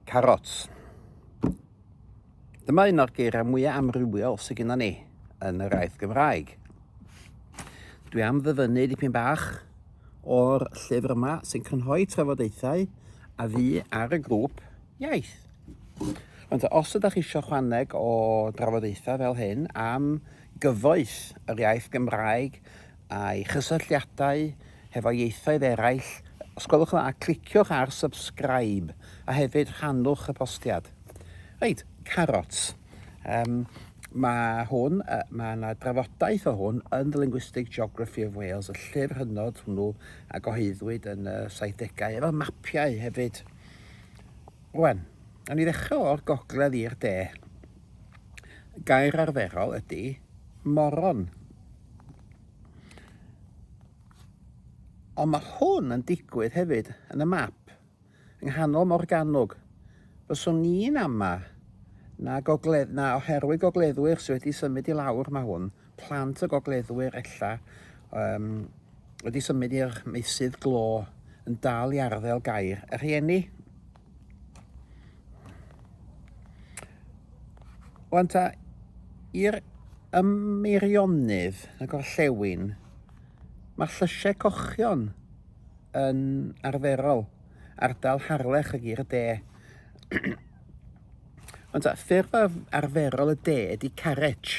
Carots. Dyma un o'r geiriau mwyaf amrywiol sydd gennym ni yn yr aeth Gymraeg. Dwi am ddyfynnu dipyn bach o'r llyfr yma sy'n cynhoi trafodaethau a fi ar y grŵp iaith. Ond os ydych chi eisiau chwaneg o drafodaethau fel hyn am gyfoeth yr iaith Gymraeg, a'i chysylltiadau hefo ieithoedd eraill, os gwelwch yn dda, cliciwch ar subscribe a hefyd rhannwch y postiad. Reit, carot. Um, mae hwn, uh, mae yna drafodaeth o hwn yn The Linguistic Geography of Wales, y llyfr hynod hwnnw a goheiddwyd yn y 70au, efo mapiau hefyd. Rwan, a ni ddechrau o'r gogledd i'r de. Gair arferol ydy moron. Ond mae hwn yn digwydd hefyd yn y map, yng nghanol Morgannwg. Fyswn ni'n ama na, gogledd, na oherwydd gogleddwyr sydd wedi symud i lawr mae hwn, plant y gogleddwyr ella um, wedi symud i'r meysydd glo yn dal i arddel gair y rhieni. Wan ta, i'r ymmeirionydd y gorllewin, mae llysiau cochion yn arferol ardal Harlech y Gir y De. Ond ta, ffurf arferol y de ydy carec,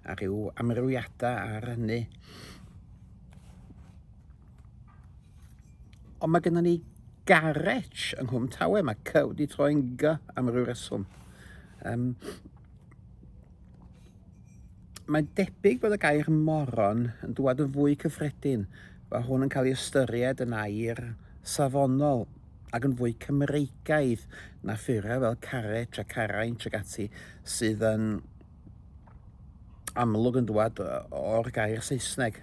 a rhyw amrywiadau ar hynny. Ond mae gennym ni garage yng Nghwm Tawe, mae cy wedi troi'n gy am ryw reswm. Um, mae'n debyg bod y gair moron yn dwad yn fwy cyffredin, mae hwn yn cael ei ystyried yn air safonol ac yn fwy Cymreigaidd na ffurau fel carrec a caraint ac ati sydd yn amlwg yn dwad o'r gair Saesneg.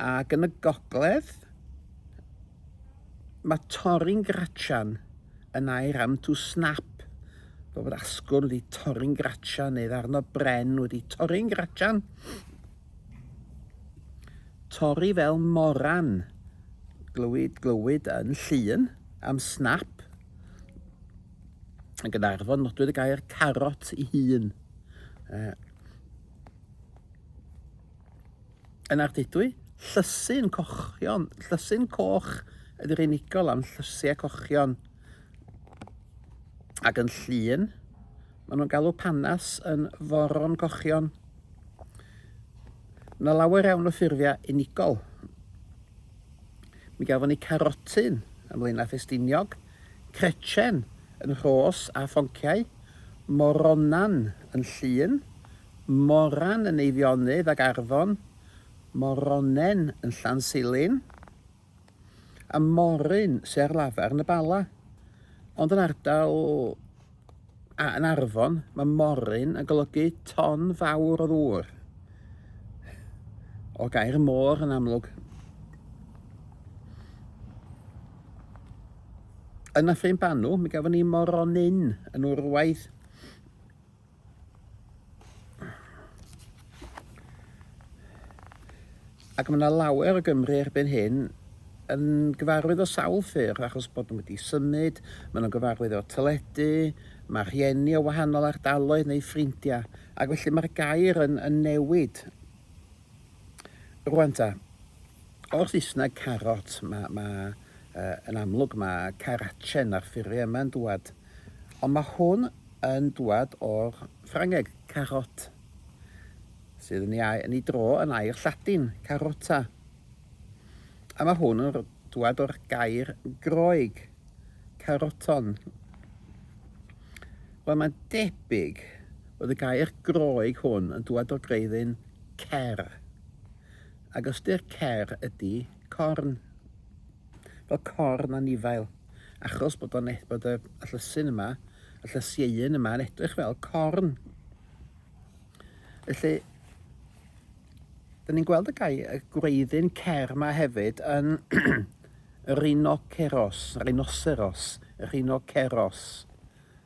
Ac yn y gogledd, mae torri'n gratian yn air am to snap, fel bod asgwrn wedi torri'n gratian neu ddarno bren wedi torri'n gratian. Torri fel moran, glywyd, glywyd yn llun am snap, yn Gynarfon, nodwyd y gair carot i hun. Uh, Yn Ardudwy, llysu'n cochion, llysu'n coch ydy'r unigol am llysiau cochion. Ac yn llun, maen nhw'n galw panas yn foron cochion. Mae yna lawer iawn o ffurfiau unigol. Mi gafon ni carotyn yn Blaenau Ffestiniog, crechen yn rhos a phonciau, moronan yn llun, Moran yn Eifionydd ac Arfon Moronen yn Llansilin, a Moryn sy ar lafar yn y Bala. Ond yn ardal a yn Arfon, mae Moryn yn golygu ton fawr o ddŵr, o gair môr yn amlwg. Yn Nyffryn Banw, mi gafon ni Moronyn yn Wrwaidd. Ac mae yna lawer o Gymru erbyn hyn yn gyfarwydd o sawl ffyrdd achos bod nhw wedi symud, maen nhw'n gyfarwydd o'r teledu, mae rhieni o wahanol ardaloedd neu ffrindiau, ac felly mae'r gair yn, yn newid. Rwan ta, o'r Saesneg carot, mae, mae uh, yn amlwg mae carachen ar ffurfio yma'n dwad, ond mae hwn yn dŵad o'r Ffrangeg, carotte, sydd yn ei, yn ei dro yn air Lladin, carota. A mae hwn yn dŵad o'r gair Groeg, caroton. Wel, mae'n debyg bod y gair Groeg hwn yn dŵad o greiddyn cer, ac ystyr cer ydy corn, fel corn anifail. achos bod o'n e- bod y, y llysyn yma, y llysieuyn yma yn edrych fel corn. Felly, dyn ni'n gweld y, gai, y gwreiddyn cer yma hefyd yn rhinoceros, rhinoceros, rhinoceros.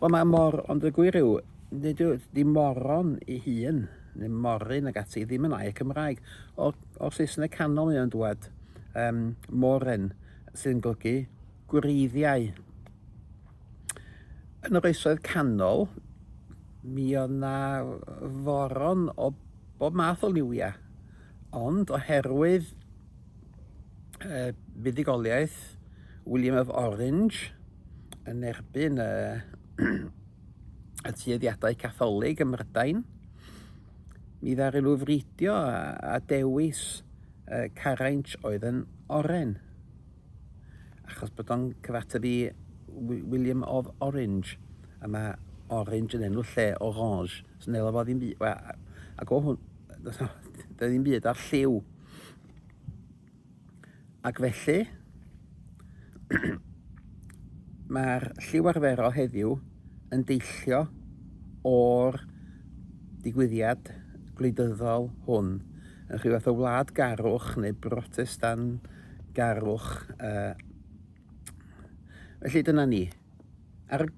Wel mae mor, ond y gwir yw, nid yw, di moron i hun, neu moryn ag ati, ddim yn air Cymraeg. O'r, o'r Saesneg canol mae o'n dwad, um, moren, sy'n golygu gwreiddiau. Yn yr oesoedd canol, mi o'na foron o bob math o liwiau. Ond oherwydd y buddugoliaeth William of Orange yn erbyn y, y tueddiadau Catholig ym Mhrydain, mi ddaru nhw fridio a, a dewis uh, caraint oedd yn oren. Achos bod o'n cyfateb i William of Orange, a mae orange yn enw lle orange. Swnelo fo ddim byd, wel, ac o hwn, does na ddim byd ar lliw. Ac felly, mae'r lliw arferol heddiw yn deillio o'r digwyddiad gwleidyddol hwn yn rhyw fath o wlad garwch neu brotestan garwch. Uh, felly dyna ni. Ar y